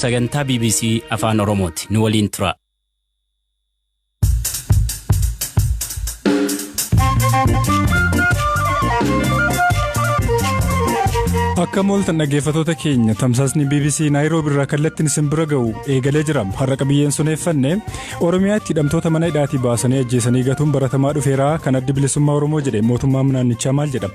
Sagantaa bbc Afaan Oromooti. Nu waliin tura. Akka mooltan dhaggeeffatoota keenya tamsaasni BBC Naayiroobi irraa kallattiin isin bira ga'u eegalee jira. Har'a qabiyyeen suneeffanne Oromiyaatti hidhamtoota mana hidhaatii baasanii ajjeesanii gatuun baratamaa dhufeera kan addi bilisummaa Oromoo jedhe mootummaan naannichaa maal jedha?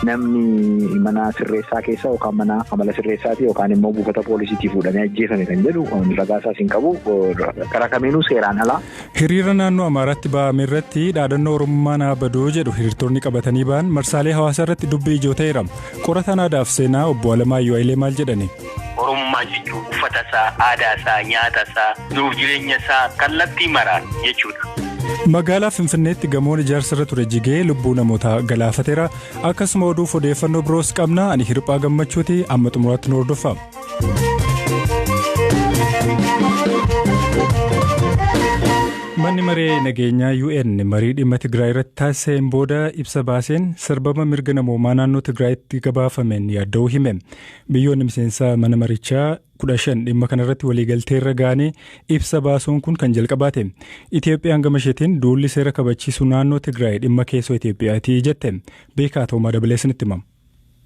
Namni mana sirreessaa keessa yookaan mana amala sirreessaati yookaan immoo buufata poolisiitii fuudhamee ajjeefame kan jedhu ragaa isaas hin qabu. Karaa kamiinuu seeraan alaa. Hiriira naannoo Amaaraatti ba'ame irratti dhaadannoo Oromummaan haa baduu jedhu hiriirtonni qabatanii ba'an marsaalee hawaasaa irratti dubbii ijoo ta'eera. Qorataan aadaaf seenaa obbo Alamaayyoo Hayilee maal jedhani? Oromummaa jechuun uffata isaa, aadaa isaa, nyaata isaa, jiruuf jireenya isaa kallattii maraan jechuudha. Magaalaa Finfinneetti gamoon ijaarsa irra ture jigee lubbuu namoota galaafateera. Akkasuma oduuf odeeffannoo biroos qabna. Ani Hirphaa Gammachuuti amma xumuraatti nu hordofaa. Manni maree nageenyaa UN marii dhimma Tigraay irratti taasiseen booda ibsa baaseen sarbama mirga namoomaa naannoo Tigraayitti gabaafameen yaadda'uu hime. Biyyoonni miseensa mana marichaa kudha shan dhimma kanarratti waliigalteerra gaanii ibsa baasuun kun kan jalqabaa ta'e. Itoophiyaan gama isheetiin duulli seera kabachiisuu naannoo Tigraay dhimma keessoo Itoophiyaati jette. Beekaa Toomaa dabalee isinitti hima.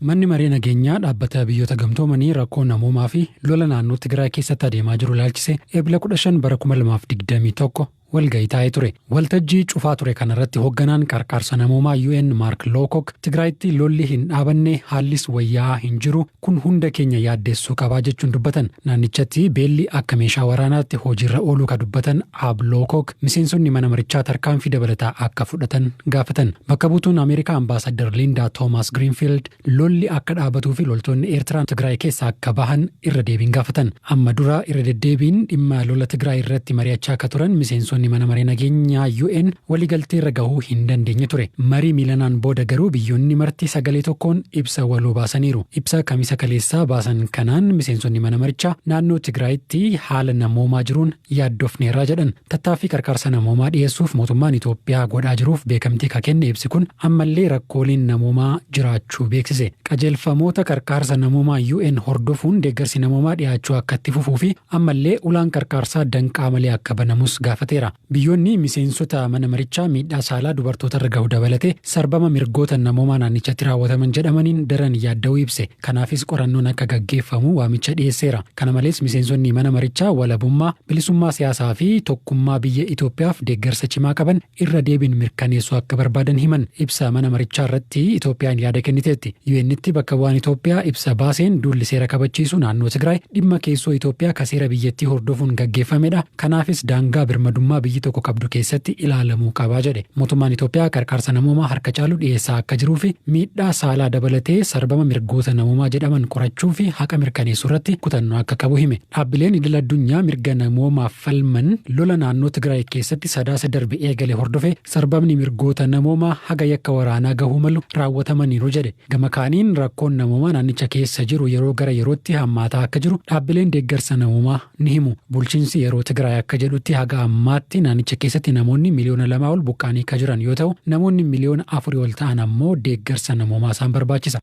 Manni Maree Nageenyaa Dhaabbata Biyyoota Gamtoomanii rakkoo namoomaa fi lola naannoo Tigraay keessatti adeemaa jiru ilaalchisee Eebila kudha shan bara kuma lamaa fi digdamii tokko walgahii taa'ee ture. Waltajjii cufaa ture kanarratti hogganaan qarqaarsa namoomaa UN Maark Lookok Tigraayitti lolli hin dhaabanne, haallis wayyaa'aa hin jiru, kun hunda keenya yaaddeessuu qaba jechuun dubbatan. Naannichatti beelli akka meeshaa waraanaatti hojiirra ooluu ka dubbatan Aab Lookok miseensonni mana marichaa tarkaanfii dabalataa akka fudhatan gaafatan. Bakka buutuun Ameerikaa Ambaasaaddar Lindaa Toomaas Giriinfiild Lolli akka dhaabatuu fi loltoonni Eertiraa Tigraay keessaa akka bahan irra deebiin gaafatan. Amma dura irra deddeebiin dhimma lola Tigraay irratti mari'achaa akka turan miseensonni mana maree nageenyaa UN waliigaltee irra gahuu hin dandeenye ture. Marii miilanaan booda garuu biyyoonni marti sagalee tokkoon ibsa waloo baasaniiru. Ibsa Kamisa kaleessaa baasan kanaan miseensonni mana marichaa naannoo Tigraayitti haala namoomaa jiruun yaaddofneerra jedhan. Tattaaffii qarqarsa namoomaa dhiyeessuuf mootummaan Itoophiyaa godhaa jiruuf beekamtii ka kenne ibsi kun ammallee rakkooleen namoomaa jiraachuu beeksise. Qajeelfamoota qarqaarsa namoomaa UN hordofuun deeggarsi namoomaa dhiyaachuu akka itti fufuu fi ammallee ulaan qarqaarsaa danqaa malee akka banamus gaafateera. Biyyoonni miseensota mana marichaa miidhaa saalaa dubartootarra gahu dabalatee sarbama mirgoota namoomaa naannichatti raawwataman jedhamaniin daran yaadda'uu ibse. Kanaafis qorannoon akka gaggeeffamu waamicha dhiyeesseera. Kana malees miseensonni mana marichaa walabummaa, bilisummaa siyaasaa fi tokkummaa biyya Itoophiyaaf deeggarsa cimaa qaban irra deebiin mirkaneessuu akka barbaadan himan. Ibsa mana marichaa irratti Itoophiyaan yaada kenniteetti. UN'tti bakka bu'aan Itoophiyaa ibsa baaseen duulli seera kabachiisuu naannoo Tigraay dhimma keessoo Itoophiyaa ka seera biyyattii hordofuun gaggeeffamedha, Kanaafis daangaa birmadummaa biyyi tokko qabdu keessatti ilaalamuu qaba jedhe. Mootummaan Itoophiyaa qarqaarsa namoomaa harka caalu dhiyeessaa akka jiruufi miidhaa saalaa dabalatee sarbama mirgoota namoomaa jedhaman qorachuufi haqa mirkaneessuurratti kutannoo akka qabu hime. Dhaabbileen idil addunyaa mirga namoomaaf falman lola naannoo Tigraay keessatti Sadaasa darbe eegale hordofee sarbamni mirgoota namoomaa haga yakka waraanaa gahuu malu raawwatamaniiru jedhe. Gama kaaniin rakkoon namoomaa naannicha keessa jiru yeroo gara yerootti hammaataa akka jiru dhaabbileen deeggarsa namoomaa ni himu. Bulchiinsi yeroo Tigraay akka jedhutti haga ammaatti naannicha keessatti namoonni miliyoona lamaa ol buqqaanii ka jiran yoo ta'u, namoonni miliyoona afurii ol ta'an ammoo deeggarsa namoomaa isaan barbaachisa.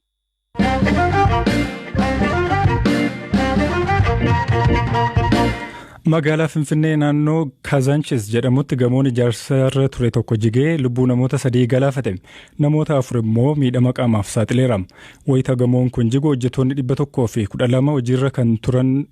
Magaalaa Finfinnee naannoo Kazanchis jedhamutti gamoon ijaarsarra ture tokko jigee lubbuu namoota sadii galaafate. Namoota afur immoo miidhama qaamaaf saaxileera. Wayita gamoon kun jigu hojjettoonni dhibba tokkoo fi kudha lama hojiirra kan turan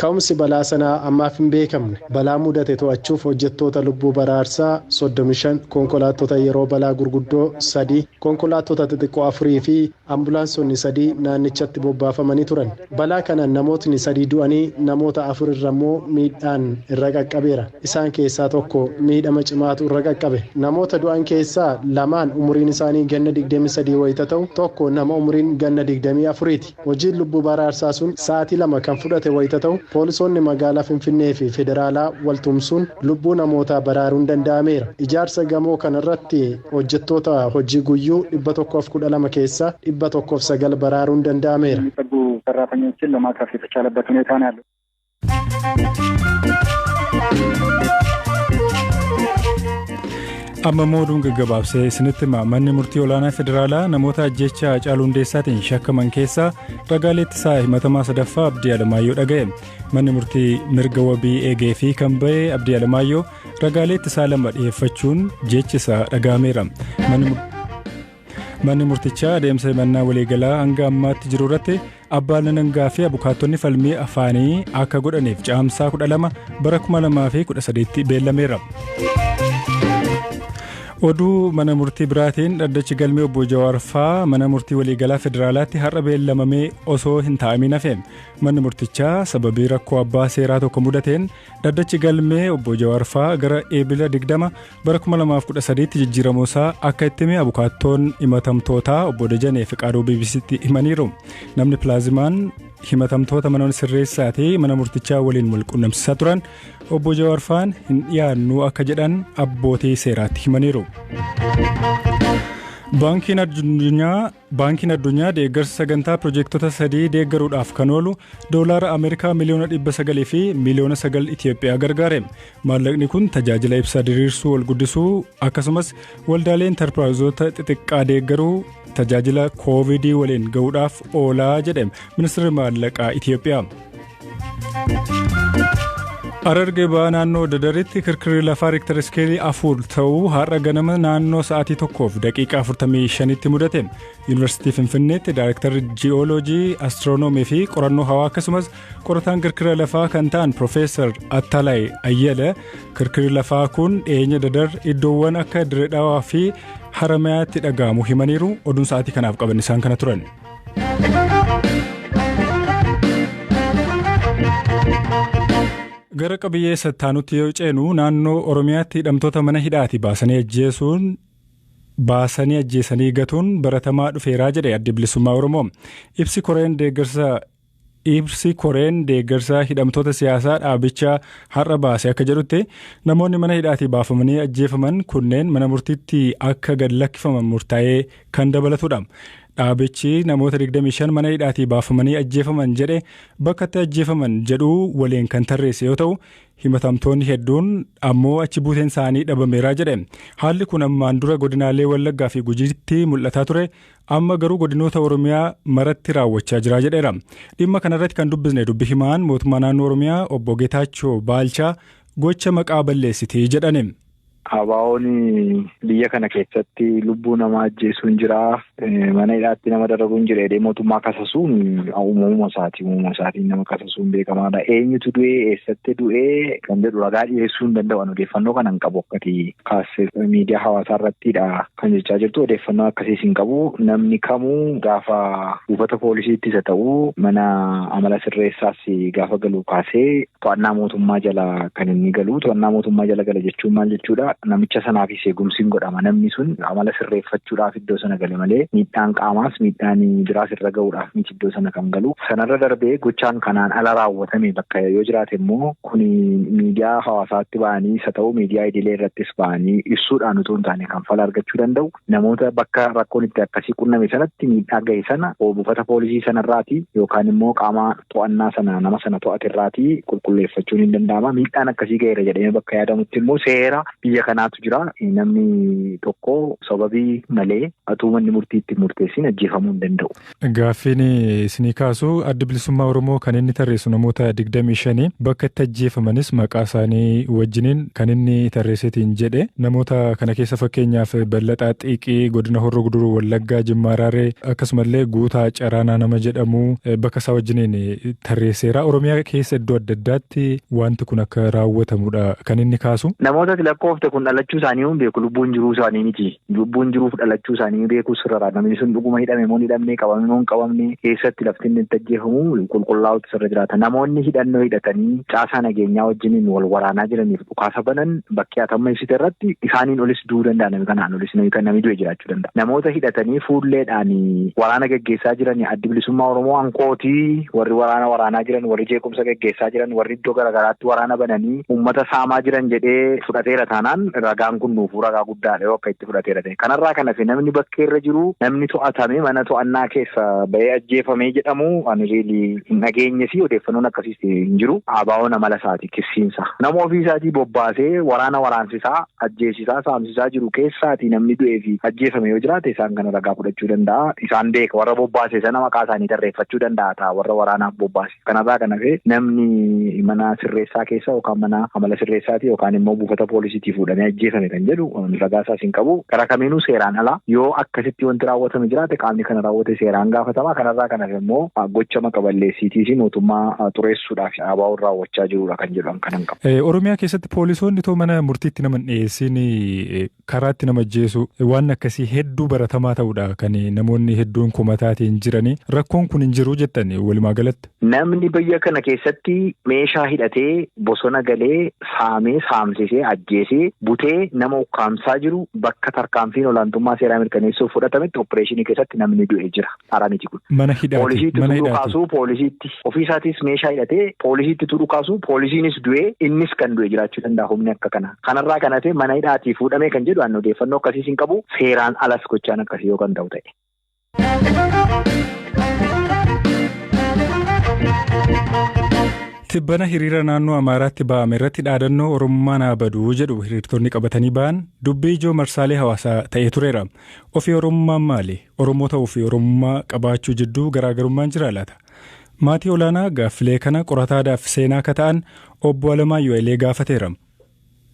Ka'umsi balaa sanaa ammaaf hin beekamne. Balaa mudate to'achuuf hojjettoota lubbuu baraarsaa 35, konkolaattota yeroo balaa gurguddoo 3, konkolaattota xixiqqoo 4 fi ambulaansonni 3 naannichatti bobbaafamanii turan. Balaa kanaan namootni 3 du'anii namoota 4 irra immoo miidhaan irra qaqqabeera. Isaan keessaa tokko miidhama cimaatu irra qaqqabe. Namoota du'an keessaa lamaan umuriin isaanii ganna 23 wayita ta'u, tokko nama umuriin ganna 24ti. Hojiin lubbuu baraarsaa sun sa'aatii lama kan fudhate wayita ta'u, poolisoonni magaalaa Finfinnee fi federaalaa wal tumsuun lubbuu namootaa baraaruun danda'ameera. Ijaarsa gamoo kanarratti hojjettoota hojii guyyuu 112 keessaa 109 baraaruun danda'ameera. amma immoo oduun gaggabaabsee isinitti hima manni murtii olaanaa federaalaa namoota ajjeechaa haacaaluu hundeessaatiin shakkaman keessaa ragaalee ittisaa himatamaa sadaffaa abdii alamaayyoo dhaga'e manni murtii mirga wabii eegee fi kan ba'e abdii alamaayyoo ragaalee ittisaa lama dhiyeeffachuun jechi isaa dhaga'ameera manni murtichaa adeemsa himannaa waliigalaa hanga ammaatti jiru irratti Abbaan Alangaa fi abukaattonni falmii afaanii akka godhaniif caamsaa 12 bara 2013tti beellameera. Oduu mana murtii biraatiin dhaddachi galmee obbo Jawaar faa mana murtii waliigalaa federaalaatti har'a beellamamee osoo hin taa'amiin hafe. Manni murtichaa sababii rakkoo abbaa seeraa tokko mudateen dhaddachi galmee obbo Jawaar faa gara eebila 20 Bara 2013tti jijjiiramuu isaa akka itti hime abukaattoon himatamtootaa obbo Dajanee Fiqaaduu BBC'tti himaniiru. Namni pilaazimaan himatamtoota mana sirreessaa fi mana murtichaa waliin wal qunnamsiisaa turan obbo Jawaar faan hin dhiyaannuu akka jedhan abbootii seeraatti himaniiru. Baankiin addunyaa Baankiin Addunyaa deeggarsa sagantaa pirojeektota sadii deeggaruudhaaf kan oolu doolaara Ameerikaa miliyoona 900 fi miliyoona 9 Itiyoophiyaa gargaare. Maallaqni kun tajaajila ibsaa diriirsuu ol guddisuu akkasumas waldaalee intarpiraayizoota xixiqqaa deeggaruu tajaajila koovidii waliin ga'uudhaaf oolaa jedhe ministeerri maallaqaa Itiyoophiyaa. Hararge ba'aa naannoo Dadaritti kirkirri lafaa Riiktar Iskeelii afur ta'uu har'a ganama naannoo sa'aatii tokkoof daqiiqaa 45tti mudate. Yuunivarsiitii Finfinneetti Daayrektarri Ji'ooloojii, Astiroonoomii fi Qorannoo Hawaa akkasumas qorataan kirkira lafaa kan ta'an Piroofeesar Attalaay Ayyala kirkirri lafaa kun dhiyeenya Dadar iddoowwan akka Dirree Dhawaa fi Haramayaatti dhaga'amu himaniiru. Oduun sa'aatii kanaaf qaban isaan kana turan. Gara qabiyyee sattaanutti yoo ceenu naannoo Oromiyaatti hidhamtoota mana hidhaati baasanii ajjeesuun baasanii ajjeesanii gatuun baratamaa dhufeeraa jedhe addi bilisummaa Oromoo. Ibsi koreen deeggarsa Ibsi koreen deeggarsa hidhamtoota siyaasaa dhaabichaa har'a baase akka jedhutti namoonni mana hidhaatii baafamanii ajjeefaman kunneen mana murtiitti akka gad lakkifaman murtaa'ee kan dabalatudha. Dhaabichi namoota 25 mana hidhaatii baafamanii ajjeefaman jedhe bakkatti ajjeefaman jedhuu waliin kan tarreesse yoo ta'u himatamtoonni hedduun ammoo achi buuteen isaanii dhabameeraa jedhe. Haalli kun ammaan dura godinaalee Wallaggaa fi Gujiitti mul'ataa ture amma garuu godinoota Oromiyaa maratti raawwachaa jira jedheera. Dhimma kanarratti kan dubbisne dubbi himaan mootummaa naannoo Oromiyaa obbo Getaachoo Baalchaa gocha maqaa balleessitee jedhani. Abaawoon biyya kana keessatti lubbuu namaa ajjeesuun jira. Mana hidhaatti nama dararuun jira jedhee mootummaa kasasuun uumamuma isaati. Uumamuma isaatiin nama kasasuun beekamaadha. Eenyutu du'ee eessatti du'ee kan jedhu ragaa dhiyeessuu hin danda'u. Odeeffannoo kana hin qabu akkati kaasee miidiyaa hawaasaa irrattidha. Kan jechaa jirtu odeeffannoo akkasiis hin qabu. Namni kamuu gaafa buufata poolisiitti isa ta'u mana amala sirreessaas gaafa galu kaasee to'annaa mootummaa jala kan inni galu. To'annaa mootummaa jala gala jechuun maal jechuudha? Namicha sanaafis eegumsi hin godhama. Namni sun amala sirreeffachuudhaaf iddoo sana gale malee miidhaan qaamaas miidhaan biraas irra ga'uudhaaf miti iddoo sana kan galu. Sanarra darbee gochaan kanaan ala raawwatame bakka yoo jiraate immoo kun miidiyaa hawaasaatti ba'anii isa ta'u miidiyaa idilee irrattis ba'anii ibsuudhaan utuu hin taane kan fala argachuu danda'u namoota bakka rakkoon itti akkasii qunname sanatti miidhaa gahe sana buufata poolisii sanarraati yookaan immoo qaama to'annaa sana nama sana to'ate irraati qulqulleeffachuun hin danda'ama miidhaan akkasii gaheera jedhamee bakka yaadamutti immoo seera biyya kanaatu jira namni tokko sababii malee utuu manni murtii itti murteessin ajjeefamuu hin danda'u. Gaaffiin isinii kaasu Addi Bilisummaa Oromoo kan inni tarreessu namoota 25 bakka itti ajjeefamanis maqaa isaanii wajjiniin kan inni tarreesseetiin jedhe. Namoota kana keessa fakkeenyaaf Ballaxaa Xiiqii godina Horroo Guduruu Wallaggaa Jimmaa Araaree akkasumallee Guutaa Caraanaa nama jedhamu bakka isaa wajjiniin tarreesseera. Oromiyaa keessa iddoo adda addaatti wanti kun akka raawwatamuudha kan inni kaasu. Namoota ati lakkoofte kun dhalachuu isaanii hin beeku lubbuun jiruu isaanii miti. Lubbuun jiruuf dhalachuu isaanii ni beeku, sirrara. Namni sun dhuguma hidhame moo hin hidhamne, qabame moo hin qabamne, eessatti lafti inni itti ajjeefamu qulqullaa'uutu isarra jiraata. Namoonni hidhannoo hidhatanii caasaa nageenyaa wajjiniin wal waraanaa jiraniif dhukaasa banan bakkee ati amma ibsite irratti isaaniin olis du'uu danda'a nami kanaan olis nami du'e jiraachuu danda'a. Namoota hidhatanii fuulleedhaan waraana gaggeessaa jiran Addi Bilisummaa Oromoo ankooti warri waraana waraanaa jiran, warri jeequmsa gaggeessaa jiran, warri iddoo garagaraatti waraana bananii uummata saamaa jiran jedhee fudhateera taanaan ragaan kun nuufuu ragaa guddaa. guddaa dha yoo akka itti fudhateera ta'e. Kanarraa kan hafe namni bakkee irra jiru namni to'atame mana to'annaa keessa ba'ee ajjeefame jedhamu ani really hin dhageenye fi odeeffannoon akkasiis hin jiru. ABOn amala isaati kissiin isaa. Nama ofii isaatii bobbaasee waraana waraansisaa, ajjeesisaa, saamsisaa jiru keessaati namni du'ee fi ajjeefame yoo jiraate isaan kana ragaa fudhachuu danda'a. Isaan beeka warra bobbaase sana maqaa isaanii tarreeffachuu danda'a ta'a warra waraanaaf bobbaase. Kanarraa kan hafe namni mana sirreessaa keessa yookaan mana amala sirreessaati yookaan immoo buufata poolisiitii fuudhamee ajjeefame kan jedhu ragaa isaas hin qabu. Karaa kamiinuu seeraan ala yoo akkasitti wanti raawwatame jiraate qaamni kana raawwate seeraan gaafatama. Kanarraa kan hafe immoo gocha maqa balleessiitii fi mootummaa xureessuudhaaf ABOn raawwachaa jirudha kan jedhu an kanan qabu. Oromiyaa keessatti poolisoonni too mana murtiitti nama hin dhiyeessiin karaatti nama ajjeesuu waan akkasii hedduu baratamaa ta'uudha kan namoonni hedduun kumataatiin jiranii rakkoon kun hin jiru jettan walumaa galatti. Namni biyya kana keessatti meeshaa hidhatee bosona galee saamee saamsisee ajjeesee butee nama ukkaamsaa jiru bakka tarkaanfiin olaantummaa seeraa mirkaneessuuf fudhatametti oppireeshinii keessatti namni du'e jira. Dhara miti kun. Mana hidhaati. Poolisiitti Mana utuu hidhaati. dhukaasuu poolisiitti. Ofiisaatis meeshaa hidhatee poolisiitti utuu dhukaasuu poolisiinis du'ee innis kan du'e jiraachuu danda'a humni akka kanaa. Kanarraa kan hafe mana hidhaatii fuudhamee kan jedhu ani odeeffannoo akkasiis hin qabu. Seeraan alas gochaan akkasii yoo kan ta'u ta'e. Tibbana hiriira naannoo Amaaraatti ba'ame irratti dhaadannoo Oromummaa naa baduu jedhu hiriirtonni qabatanii ba'an dubbii ijoo marsaalee hawaasaa ta'ee tureera. Ofii Oromummaan maali? Oromoo ta'uu fi Oromummaa qabaachuu jidduu garaagarummaan jiraa laata? Maatii Olaanaa gaaffilee kana qorataa aadaa fi seenaa ka ta'an Obbo Alamaayyoo Hailee gaafateera.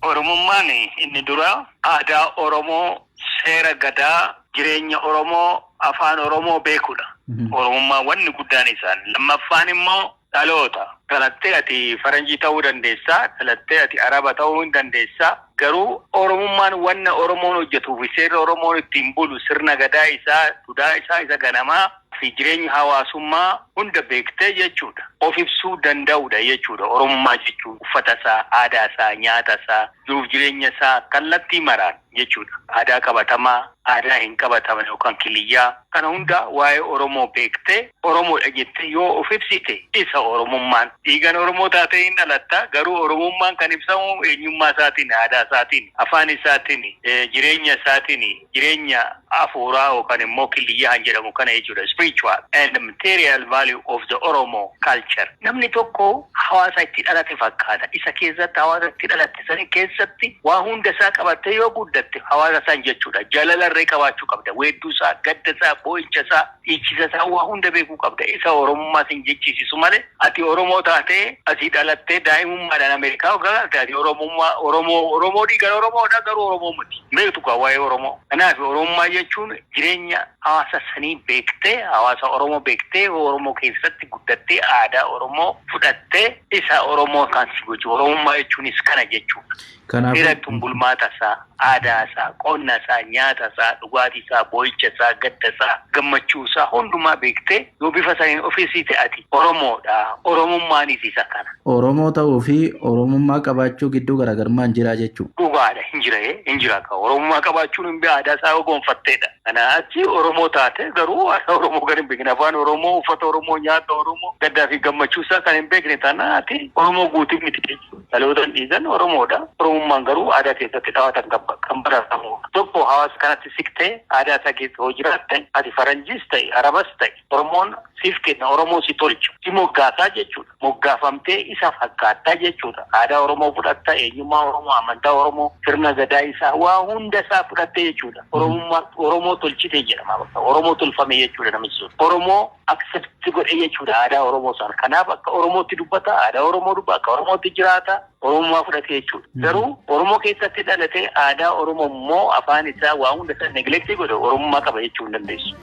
Oromummaan inni duraa aadaa Oromoo, seera Gadaa, jireenya Oromoo, Afaan Oromoo beekuudha. Oromummaan wanni guddaan isaan. Lammaffaan immoo dhaloota. Dhalattee ati faranjii ta'uu dandeessa, dhalattee ati araba ta'uu hin dandeessa, garuu oromummaan wanna oromoon hojjetuu fi seerri oromoon ittiin bulu sirna gadaa isaa, dudaa isaa isa ganamaa fi jireenya hawaasummaa hunda beektee jechuudha. Of ibsuu danda'uudha jechuudha oromummaa jechuun uffata isaa, aadaa isaa, nyaata isaa, jiruuf jireenya isaa kallattii maraan. jechuudha. Aadaa qabatamaa, aadaa hin qabatamne yookaan kiliyyaa. Kana hunda waa'ee Oromoo beektee Oromoodha jettee yoo of ibsite isa Oromummaan. Dhiigan Oromoo taatee hin dhalatta, garuu Oromummaan kan ibsamu eenyummaa isaatiini, aadaa isaatiini, afaan isaatiini, jireenya isaatiini, jireenya afuuraa yookaan immoo kiliyyaa kan jedhamu kana jechuudha, spiritual and material value of the Oromo culture. Namni tokko hawaasa itti dhalate fakkaata, isa keessatti hawaasa itti dhalate. sani keessatti waa hunda isaa qabattee yoo guddatte hawaasa san jechuudha. Jalala irree qabaachuu qabda. Weedduu isaa, gadda isaa, boo'icha isaa, dhiichisa isaa waa hunda beekuu qabda. Isa Oromummaa sin jechisiisu malee ati Oromoo taatee asii dhalattee daa'imummaadhaan Ameerikaa hoggaa galte ati Oromummaa Oromoo Oromoo dhiigaan Oromoodha garuu Oromoo miti. Hin beektu kaa waa'ee Oromoo. Kanaaf Oromummaa jechuun jireenya hawaasa sanii beektee hawaasa Oromoo beektee Oromoo keessatti guddattee aadaa Oromoo fudhattee Isa Oromoo kan si gochu Oromummaa jechuunis kana jechuudha. Kanaafuu- Dhiira jechuun bulmaata isaa, aadaa isaa, qonna isaa, nyaata isaa, dhugaatii isaa, boo'icha isaa, gadda isaa, gammachuu isaa hundumaa beektee yoo bifa saniin of ibsite ati Oromoodha. Oromummaanis isa kana. Oromoo ta'uu fi Oromummaa qabaachuu gidduu garaagarummaan jiraa jechuu? Dhugaadha hin jira ee hin jira kaa Oromummaa qabaachuun hin bee aadaa isaa yoo gonfatteedha. Kanaa achi Oromoo taate garuu aadaa Oromoo kan hin beekne, afaan Oromoo, uffata Oromoo, nyaata Oromoo, gaddaa fi gammachuu isaa kan hin beekne taanaan ati Oromoo guutuu miti jechuudha. Dhalootan dhiigan Oromoodha. Oromummaan garuu aadaa keessatti dhawatan kan baratamudha. Tokko hawaasa kanatti siqtee aadaa isaa keessa yoo jiraatte ati Faranjiis ta'i, Arabas ta'i, Oromoon siif kenna, Oromoo si tolcha, si moggaasa jechuudha. Moggaafamtee isa fakkaatta jechuudha. Aadaa Oromoo fudhatta, eenyummaa Oromoo, amantaa Oromoo, sirna Gadaa isaa, waa hunda isaa fudhatte jechuudha. Oromummaa, Oromoo tolchite jedhama bakka. Oromoo tolfame jechuudha namichi sun. Oromoo accept godhe jechuudha aadaa Oromoo sana. Kanaaf akka Oromootti dubbata, aadaa Oromoo dubbata, akka Oromootti jiraata. Oromummaa fudhate jechuudha. Garuu Oromoo keessatti dhalate aadaa Oromoo immoo afaan isaa waa hunda isaa neglectii godhe Oromummaa qaba jechuu hin dandeessu.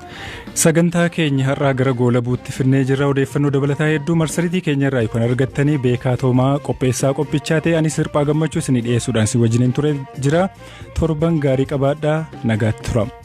Sagantaa keenya har'aa gara goolabuutti finnee jirra odeeffannoo dabalataa hedduu marsariitii keenya irraa kan argattanii beekaa toomaa qopheessaa qophichaa ta'e anis hirphaa gammachuu isinii dhiyeessuudhaan si wajjiniin ture jira torban gaarii qabaadhaa nagaatti tura.